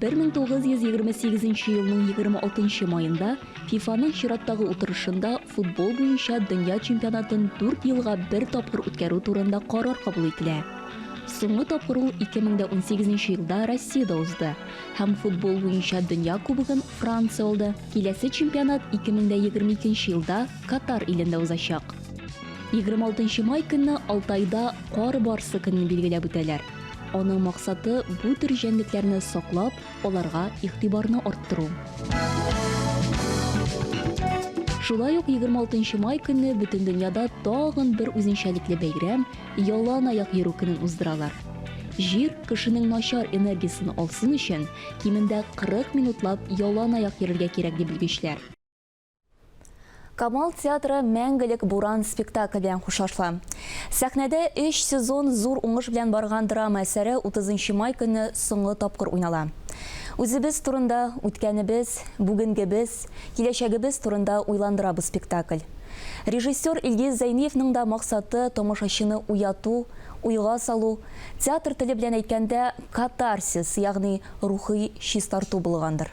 Бер мең тугыз йөз егерме сигезенче елның егерме алтынчы маенда ФИФАның чираттагы утырышында футбол буенча дөнья чемпионатын дүрт елга бер тапкыр үткәрү турында карар кабул ителә. Соңгы тапкыр ул 2018 елда Россиядә узды һәм футбол буенча дөнья кубогын Франция алды. Киләсе чемпионат 2022 елда Катар илендә узачак. 26 май көнне Алтайда Кар барсы көнен билгеләп үтәләр. Аның максаты бу төр җәнлекләрне саклап, аларга игътибарны арттыру. Шулай ук 26 май көнне бөтен дөньяда тагын бер үзенчәлекле бәйрәм ялан аяк йөрү көнен уздыралар. Җир кешенең начар энергиясен алсын өчен, кимендә 40 минутлап ялан аяк йөрергә кирәк ди белгечләр. Камал театры Мәңгелек буран спектакль белән хушлашла. Сәхнәдә 3 сезон зур уңыш белән барган драма әсәре 30 май көне соңгы тапкыр уйнала. Үзебез турында, үткәнебез, бүгенгебез, киләчәгебез турында уйландыра бу спектакль. Режиссер Илгиз Зәйниевның да максаты тамашачыны уяту, уйга салу, театр теле белән әйткәндә, катарсис, ягъни рухи чистарту булгандыр.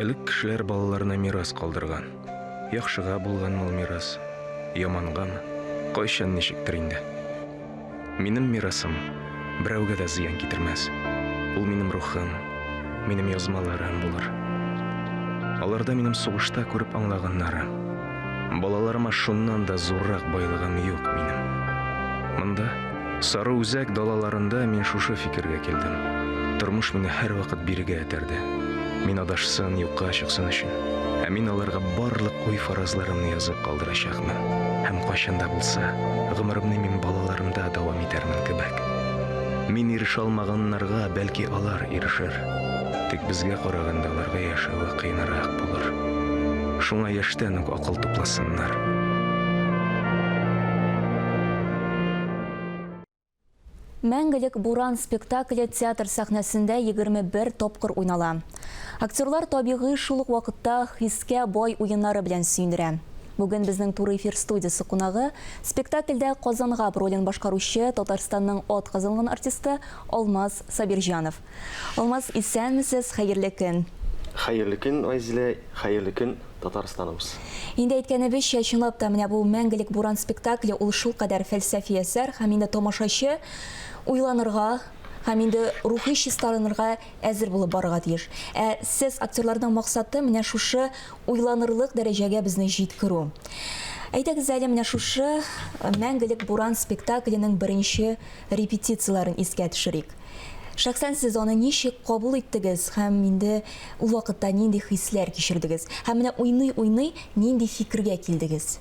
Элек кешеләр балаларына мирас калдырган. Яхшыга булганмы ул мирас, ямангамы? Кайчан ничектер инде. Минем мирасым берәүгә дә зыян китермәс. Ул минем рухым, минем язмаларым булыр. Аларда минем сугышта күреп аңлаганнарым. Балаларыма шуннан да зуррак байлыгым юк минем. Монда, сары үзәк далаларында мин шушы фикергә килдем. Тормыш мине һәрвакыт бирегә этәрде. Мин адашсын, юкка чыксын өчен. Ә мин аларга барлык уй-фаразларымны язып калдырачакмын. булачакмы? Һәм кайчан да булса, гомеремне мин балаларымда дәвам итәрмен кебек. Мин ирешә алмаганнарга, бәлки алар ирешер. Тик безгә караганда аларга яшәве кыенрак булыр. Шуңа яшьтән үк акыл тупласыннар. Мәңгелек буран спектакле театр сәхнәсендә 21 тапкыр уйнала. Актерлар табигый шул ук вакытта хискә бай уеннары белән сөендерә. Бүген безнең туры эфир студиясе кунагы спектакльдә Казангаб ролен башкаручы Татарстанның атказанган артисты Алмаз Сабирҗанов. Алмаз исәнмесез, хәерле көн! Хәерле көн Айзилә, хәерле көн Татарстаныбыз! Инде әйткәнебезчә, чынлап та менә бу Мәңгелек буран спектакле ул шулкадәр фәлсәфи әсәр һәм инде тамашачы уйланырга һәм инде рухи чистарынырга әзер булып барырга тиеш. Ә сез актерларның максаты менә шушы уйланырлык дәрәҗәгә безне җиткерү. Әйдәгез әле менә шушы Мәңгелек буран спектакленең беренче репетицияләрен искә төшерик. Шәхсән сез аны ничек кабул иттегез һәм инде ул вакытта нинди хисләр кичердегез? Һәм менә уйный-уйный нинди фикергә килдегез?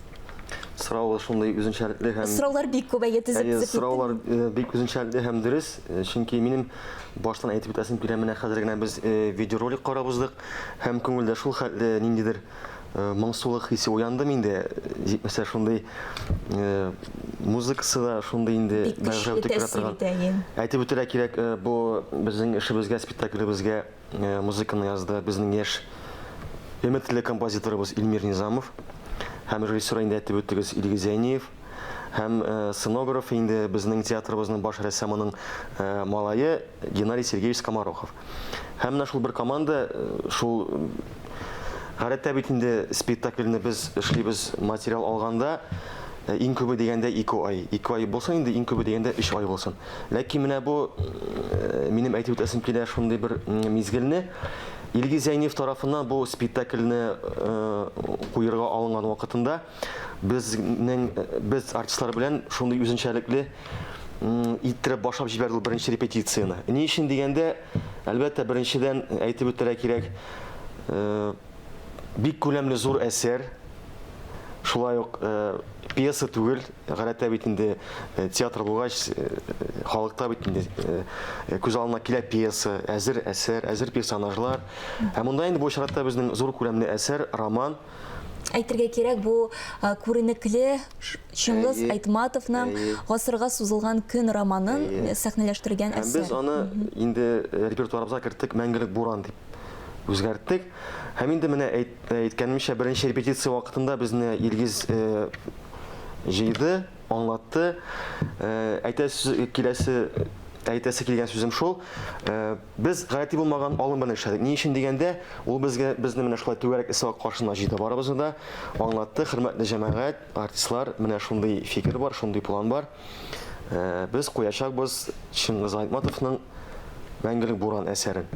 Сорау шундый үзенчәлекле һәм Сораулар бик күп, әйе, тезеп тезеп Сораулар э, бик үзенчәлекле һәм дөрес, э, чөнки минем баштан әйтеп үтәсем килә, менә хәзер генә без э, видеоролик карап уздык һәм күңелдә шул хәтле ниндидер Э, моңсулык хисе уянды миндә җитмәсә шундый э, музыкасы да шундый инде бәгырьгә үтеп керә торган әйтеп үтәргә кирәк э, бу безнең эшебезгә спектаклебезгә музыканы язды безнең яшь өметле композиторыбыз Илмир Низамов һәм режиссер инде әйтеп үттегез Илгиз Зәйниев һәм сценограф инде безнең театрыбызның баш рәссамының малае Геннадий Сергеевич Скоморохов Һәм менә шул бер команда, шул Гадәттә бит инде спектакльне без эшлибез материал алганда э, иң күбе дигәндә 2 ай. 2 ай булса инде иң күбе дигәндә 3 ай булсын. Ләкин менә бу э, минем әйтеп үтәсем килә шундый бер мизгелне Илгиз Зәйнев тарафыннан бу спектакльне э, куерга алынган вакытында Безнең без артистлар белән шундый үзенчәлекле иттереп башлап җибәрде ул беренче репетицияне. Ни өчен дигәндә, әлбәттә, беренчедән әйтеп үтәргә кирәк, э, бик күләмле зур әсәр, шулай ук э, пьеса түгел, гадәттә бит инде э, театр булгач, халыкта бит инде күз алдына килә пьеса, әзер әсәр, әзер персонажлар. Ә монда инде бу очракта безнең зур күләмле әсәр, роман, Әйтергә кирәк, бу күренекле Чыңгыз Айтматовның Гасырга сузылган көн романын сәхнәләштергән әсәр. Һәм без аны инде репертуарыбызга керттек, Мәңгелек буран дип үзгәрттек. Һәм инде менә әйткәнемчә, беренче репетиция вакытында безне Илгиз җыйды, аңлатты. Әйтәсе килгән сүзем шул, Без гади булмаган алым белән эшләдек. Ни өчен дигәндә, ул безгә безне менә шулай түгәрәк эссе-ак каршына җыйды, барыбызны да аңлатты, хөрмәтле җәмәгать, артистлар, менә шундый фикер бар, шундый план бар. Без куячакбыз Чыңгыз Айтматовның Мәңгелек буран әсәрен.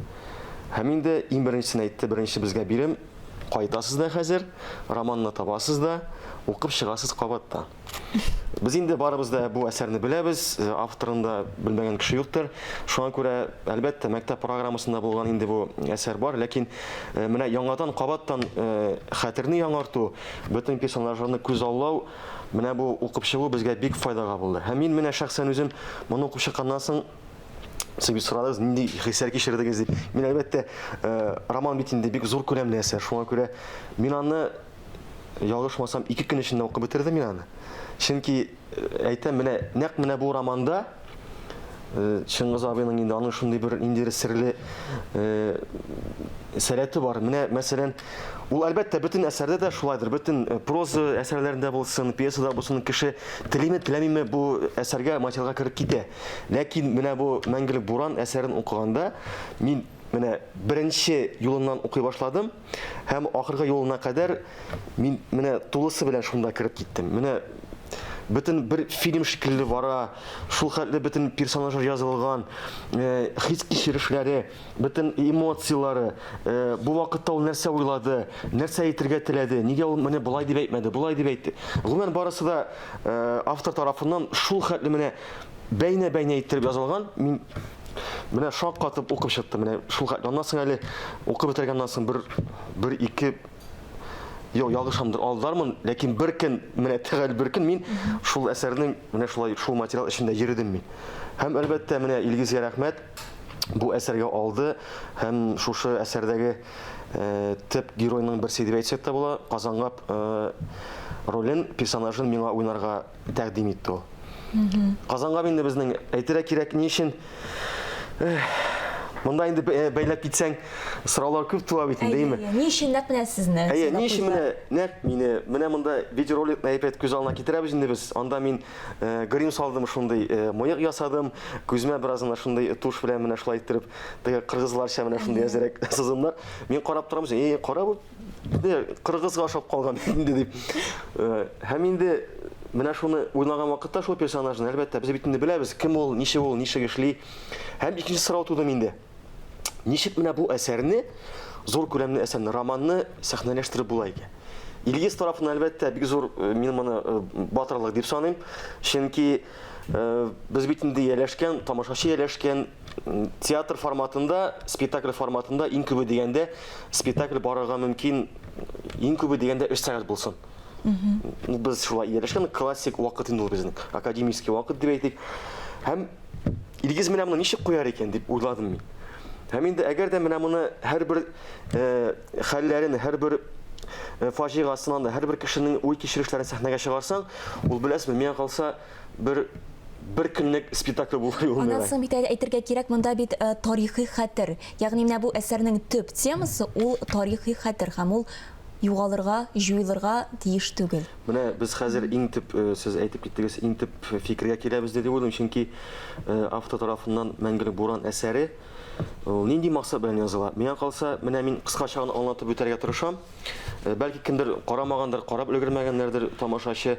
Һәм инде иң беренчесен әйтте, беренче безгә бирем, кайтасыз да хәзер, романны табасыз да, укып чыгасыз кабат та. Без инде барыбыз да бу әсәрне беләбез, авторын да белмәгән кеше юктыр. Шуңа күрә, әлбәттә, мәктәп программасында булган инде бу әсәр бар, ләкин э, менә яңадан кабаттан э, хәтерне яңарту, бөтен персонажларны күзаллау, менә бу укып чыгу безгә бик файдага булды. Һәм мин менә шәхсән үзем моны укып чыкканнан соң Сез бит сорадыгыз, нинди хисләр кичердегез дип. Мин әлбәттә, э, роман бит инде бик зур күләмле әсәр. Шуңа күрә мин аны ялгышмасам, ике көн эчендә укып бетердем мин аны. Чөнки э, әйтәм, менә нәкъ менә бу романда э, Чыңгыз абыйның инде аның шундый бер ниндидер серле э, сәләте бар. Менә мәсәлән, ул әлбәттә бөтен әсәрдә дә шулайдыр. Бөтен проза әсәрләрендә булсын, пьесада булсын, кеше телиме, теләмиме бу әсәргә материалга кереп китә. Ләкин менә бу Мәңгелек буран әсәрен укыганда мин менә беренче юлыннан укый башладым. Һәм ахыргы юлына кадәр мин менә тулысы белән шунда кереп киттем. Менә бөтен бер фильм шикелле бара, шул хәтле бөтен персонажлар язылган, э, хис кичерешләре, бөтен эмоцияләре, э, бу вакытта ул нәрсә уйлады, нәрсә әйтергә теләде, нигә ул менә болай дип әйтмәде, болай дип әйтте. Гомумән барысы да э, автор тарафыннан шул хәтле менә бәйнә-бәйнә иттереп язылган. Мин Менә шаккатып укып чыктым. Менә шул аннан соң әле укып бетергәннән соң бер бер ике Йо, ялгышамдыр, алдармын, ләкин бер көн, менә тәгәл бер көн мин шул әсәрнең менә шулай шул материал эчендә йөрдем мин. Һәм әлбәттә, менә Илгизгә рәхмәт бу әсәргә алды һәм шушы әсәрдәге э, төп геройның берсе дип әйтсәк тә була, Казангап э, ролен, персонажын миңа уйнарга тәкъдим итте ул. Казанга инде безнең әйтергә кирәк ни өчен Монда инде э, бәйләп китсәң, сораулар күп туа бит инде, әйеме? Ни өчен нәкъ менә сезне? Әйе, ни өчен менә нәкъ мине? Менә монда видеоролик әйбәт күз алдына китерәбез инде без. Анда мин э, грим салдым шундый, э, мыек ясадым, күзмә бераз гына шундый туш белән менә шулай иттереп, теге кыргызларча менә шундый әзерәк сызымнар. Мин карап торам, әйе, кара бу Кыргызга ошап калган инде дип. Э, һәм инде менә шуны уйлаган вакытта шул персонажны, әлбәттә, без бит инде беләбез, кем ул, ничек ул, ничек эшли. Һәм икенче сорау туды инде. Ничек менә бу әсәрне, зур күләмле әсәрне, романны сәхнәләштереп була икән? Илгиз тарафына әлбәттә бик зур э, мин моны э, батырлык дип саныйм. Чөнки э, без бит инде ияләшкән, тамашачы ияләшкән театр форматында, спектакль форматында иң күбе дигәндә спектакль барырга мөмкин иң күбе дигәндә 3 сәгать булсын. Ну, без шулай ияләшкән классик вакыт инде ул безнең, академический вакыт дип әйтик. Һәм Илгиз менә моны ничек куяр икән дип уйладым мин. Һәм инде әгәр дә менә моны һәрбер э, хәлләрен, һәрбер э, фаҗигасынан да, һәрбер кешенең уй кичерешләрен сәхнәгә чыгарсаң, ул беләсезме, миңа калса, Бер бер көнлек спектакль булмый ул. Аннан соң бит әле әйтергә кирәк, монда бит тарихи хәтер. Ягъни менә бу әсәрнең төп темасы ул тарихи хәтер һәм ул югалырга, җуелырга тиеш түгел. Менә без хәзер иң төп, сез әйтеп киттегез, иң төп фикергә киләбез дип уйлыйм, чөнки автор тарафыннан Мәңгелек буран әсәре Ул нинди максат белән языла? Миңа калса, менә мин кыскача гына аңлатып үтәргә тырышам. Э, бәлки кемдер карамагандыр, карап өлгермәгәннәрдер тамашачы.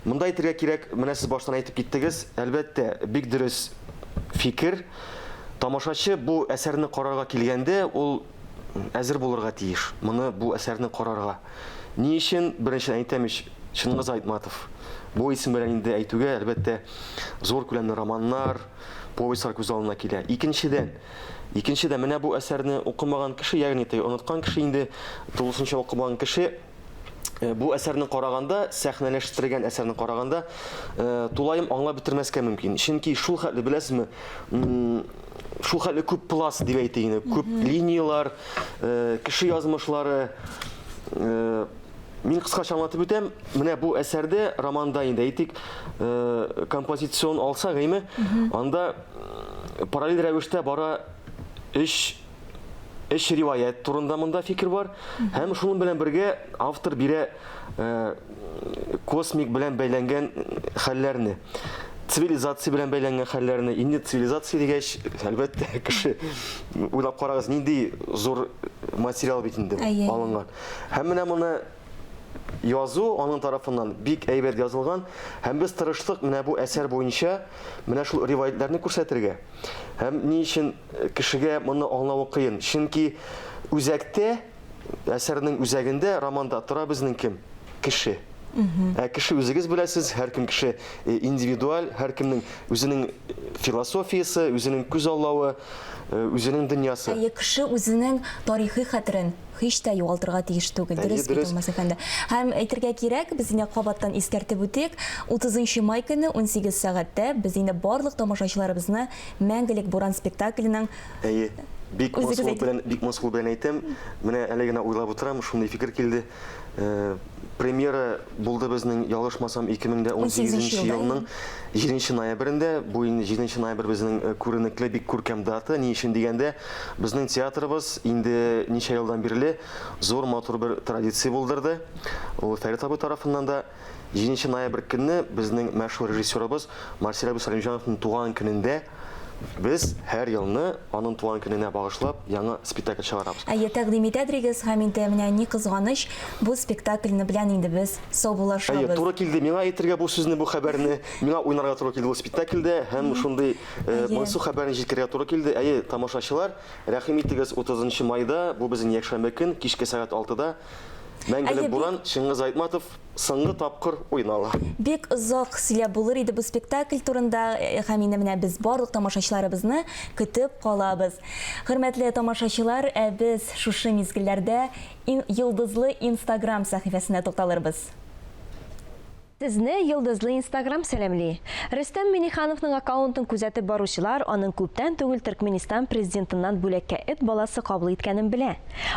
Монда әйтергә кирәк, менә сез баштан әйтеп киттегез, әлбәттә, бик дөрес фикер. Тамашачы бу әсәрне карарга килгәндә, ул әзер булырга тиеш. Моны бу әсәрне карарга. Ни өчен? Беренче әйтәм ич, Чингиз Айтматов. Бу исем белән инде әйтүгә, әлбәттә, зур күләмле романнар, повестьлар күз алдына килә. Икенчедән, икенчедән менә бу әсәрне укымаган кеше, ягъни тый оныткан кеше инде тулысынча укымаган кеше э, бу әсәрне караганда, сәхнәләштергән әсәрне караганда, э, тулаем аңлап бетермәскә мөмкин. Чөнки шул хәтле беләсезме, шул хәтле күп пласт дип әйтик инде, күп линияләр, э, кеше язмышлары, Мин кыскача аңлатып үтәм. Менә бу әсәрдә, романда инде әйтик, э, композицион алса гыйме, анда э, параллель рәвештә бара өч өч риваять турында монда фикер бар. Һәм шуның белән бергә автор бирә э, космик белән бәйләнгән хәлләрне цивилизация белән бәйләнгән хәлләрне инде цивилизация дигәч әлбәттә кеше уйлап карагыз нинди зур материал бит инде алынган Һәм менә моны язу аның тарафыннан бик әйбәт язылган. Һәм без тырыштык менә бу әсәр буенча менә шул риваятьләрне күрсәтергә. Һәм ни өчен э, кешегә моны аңлавы кыен? Чөнки үзәктә, әсәрнең үзәгендә, романда тора безнең кем? Кеше. Ә кеше үзегез беләсез, һәркем кеше э, индивидуаль, һәркемнең үзенең э, философиясе, үзенең күз аллавы, э, үзенең дөньясы. Әйе, кеше үзенең тарихи хәтерен, һич тә югалтырга тиеш түгел, дөрес бит ул, Мас әфәнде? Һәм әйтергә кирәк, без инде кабаттан искәртеп үтик, 30 нчы май көне 18 сәгатьтә без инде барлык тамашачыларыбызны Мәңгелек буран спектакленең Әйе, бик мыскыл белән, бик мыскыл белән әйтәм, менә әле генә уйлап утырам, шундый фикер килде. Премьера булды безнең, ялгышмасам, 2018 елның 7 ноябрендә, бу инде 7 ноябрь безнең күренекле, бик күркәм дата, ни өчен дигәндә, Безнең театрыбыз инде ничә елдан бирле зур матур бер традиция булдырды. Ул Фәрит абый тарафыннан да 7 ноябрь көнне безнең мәшһүр режиссерыбыз Марсель абый Сәлимҗановның туган көнендә без һәр елны аның туган көненә багышлап яңа спектакль чыгарабыз. Әйе, тәкъдим итә дирегез, һәм инде менә ни кызганыч, бу спектакльне белән инде без саубуллашабыз. Әйе, туры килде миңа әйтергә бу сүзне, бу хәбәрне. Миңа уйнарга туры килде бу спектакльдә һәм шундый Моңсу хәбәрен җиткерергә туры килде. Әйе, тамашачылар, рәхим итегез, 30 нчы майда, бу безнең якшәмбе көн, кичке сәгать алтыда Мәңгелек буран, Чыңгыз Айтматов соңгы тапкыр уйнала. Бик озак сөйләп булыр иде бу спектакль турында һәм инде менә без барлык тамашачыларыбызны көтеп калабыз. Хөрмәтле тамашачылар, ә без шушы мизгелләрдә йолдызлы инстаграм сәхифәсенә тукталырбыз. Сезне Йолдызлы Инстаграм сәламли! Рөстәм Миңнехановның аккаунтын күзәтеп баручылар аның күптән түгел Төркменистан президентыннан бүләккә эт баласы кабул иткәнен белә.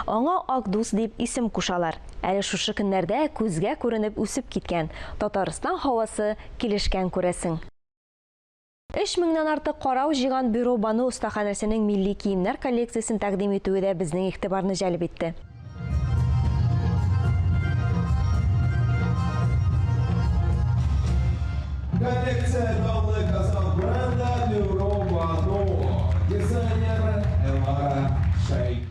Аңа Ак дус дип исем кушалар. Әле шушы көннәрдә күзгә күренеп үсеп киткән, Татарстан һавасы килешкән күрәсең. Өч меңнән артык карау җыйган бюро Бану остаханәсенең милли киемнәр коллекциясен тәкъдим итүе дә безнең игътибарны җәлеп итте. Коллекция данлы Казан бренды бюро Бану, дизайнер Элара Шәйхи.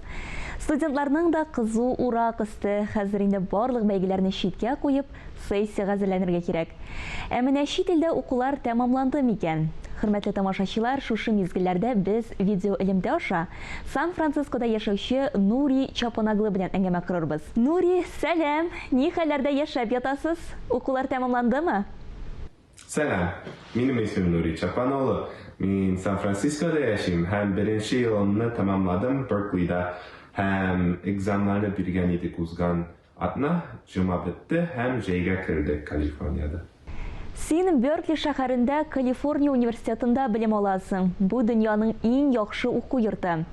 Студентларның да кызу урак өсте. Хәзер инде барлык бәйгеләрне читкә куеп, сессиягә әзерләнергә кирәк. Ә менә чит илдә укулар тәмамланды микән? Хөрмәтле тамашачылар, шушы мизгелләрдә без видеоэлемтә аша Сан-Францискода яшәүче Нури Чапанаглы белән әңгәмә корырбыз. Нури, сәлам! Ни хәлләрдә яшәп ятасыз? Укулар тәмамландымы? Сәлам! Минем исемем Нурит Чакманлы. Мин Сан-Францискода яшим һәм беренче елымны тәмамладым Берклида һәм экзамнарны биргән идек узган атна, җома бетте һәм җәйгә кердек Калифорниядә. Син Беркли шәһәрендә Калифорния университетында белем аласың, бу дөньяның иң яхшы уку йорты.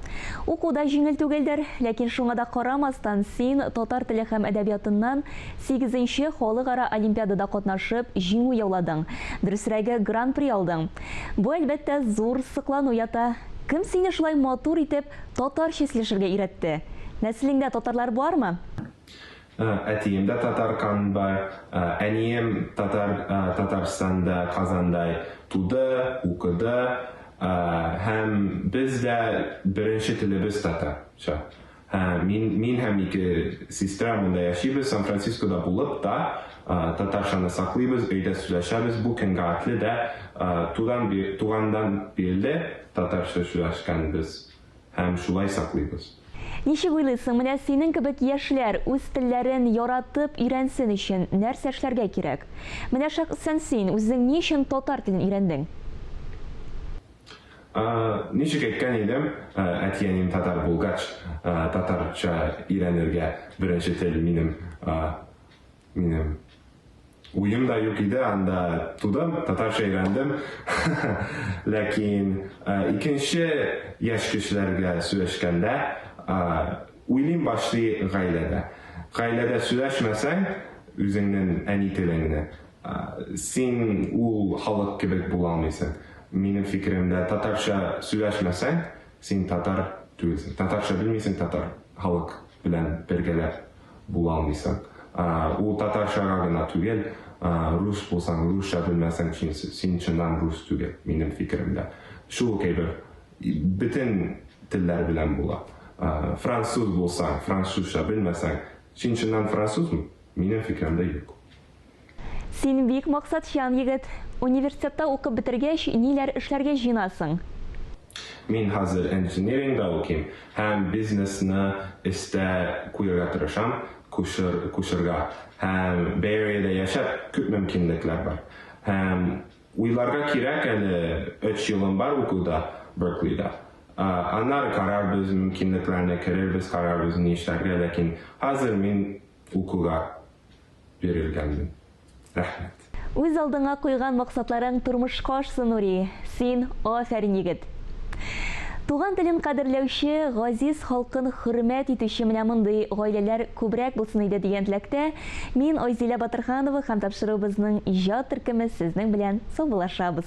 Уку да җиңел түгелдер, ләкин шуңа да карамастан син татар теле һәм әдәбиятыннан, Сигезенче халыкара олимпиадада катнашып, җиңү яуладың. Дөресрәге, гран-при алдың. Бу, әлбәттә, зур соклану ята. Кем сине шулай матур итеп татарча сөйләшергә өйрәтте? Нәселеңдә татарлар бармы? Әтием дә татар канында, әнием татар Татарстанда, Казанда туды, укыды һәм без дә беренче телебез татарча. Ә, мин, мин һәм ике сестра монда яшибез, Сан-Францискода булып та, ә, татарчаны саклыйбыз, өйдә сөйләшәбез, бу кемгә атле дә, ә, тудан би, тугандан бирле татарча сөйләшкәнбез һәм шулай саклыйбыз. Ничек уйлыйсың, менә синең кебек яшьләр үз телләрен яратып өйрәнсен өчен нәрсә эшләргә кирәк? Менә шәхсән син, үзең ни өчен татар телен өйрәндең? Ничек әйткән идем, әти-әнием татар булгач, татарча өйрәнергә беренче тел минем минем уем да юк иде, анда тудым, татарча өйрәндем. Ләкин икенче яшь кешеләргә сөйләшкәндә, уйлыйм башлый гаиләдә. Гаиләдә сөйләшмәсәң үзеңнең әни телеңне, Син ул халык кебек булалмыйсың. Минем фикеремдә, татарча сөйләшмәсәң, син татар түгелсең. Татарча белмисең, татар халык белән бергәләп булалмыйсың. Ул татарчага гына түгел, рус булсаң, русча белмәсәң, син чыннан рус түгел, минем фикеремдә. Шул ук әйбер бөтен телләр белән була. Француз булсаң, французча белмәсәң, син чыннан французмы? Минем фикеремдә, юк. Син бик максатчан егет. Университетта укып бетергәч, ниләр эшләргә җыенасың? Мин хәзер энджинирингта укыйм һәм бизнесны эстә куярга тырышам, кушырга. Һәм Бэйэриядә яшәп, күп мөмкинлекләр бар. Һәм уйларга кирәк әле, өч елым бар укуда, Берклида. Аннары карарбыз, мөмкинлекләрне керербез, карарбыз, ни эшләргә, ләкин хәзер мин. Укуга бирелгәнмен. Рәхмәт. Үз алдыңа куйган максатларың тормышка ашсын, Нури! Син, афәрин егет! Туган телен кадерләүче, газиз халкын хөрмәт итүче менә мондый гаиләләр күбрәк булсын иде дигән теләктә, мин Айзилә Батырханова һәм тапшыруыбызның иҗат төркеме сезнең белән саубуллашабыз.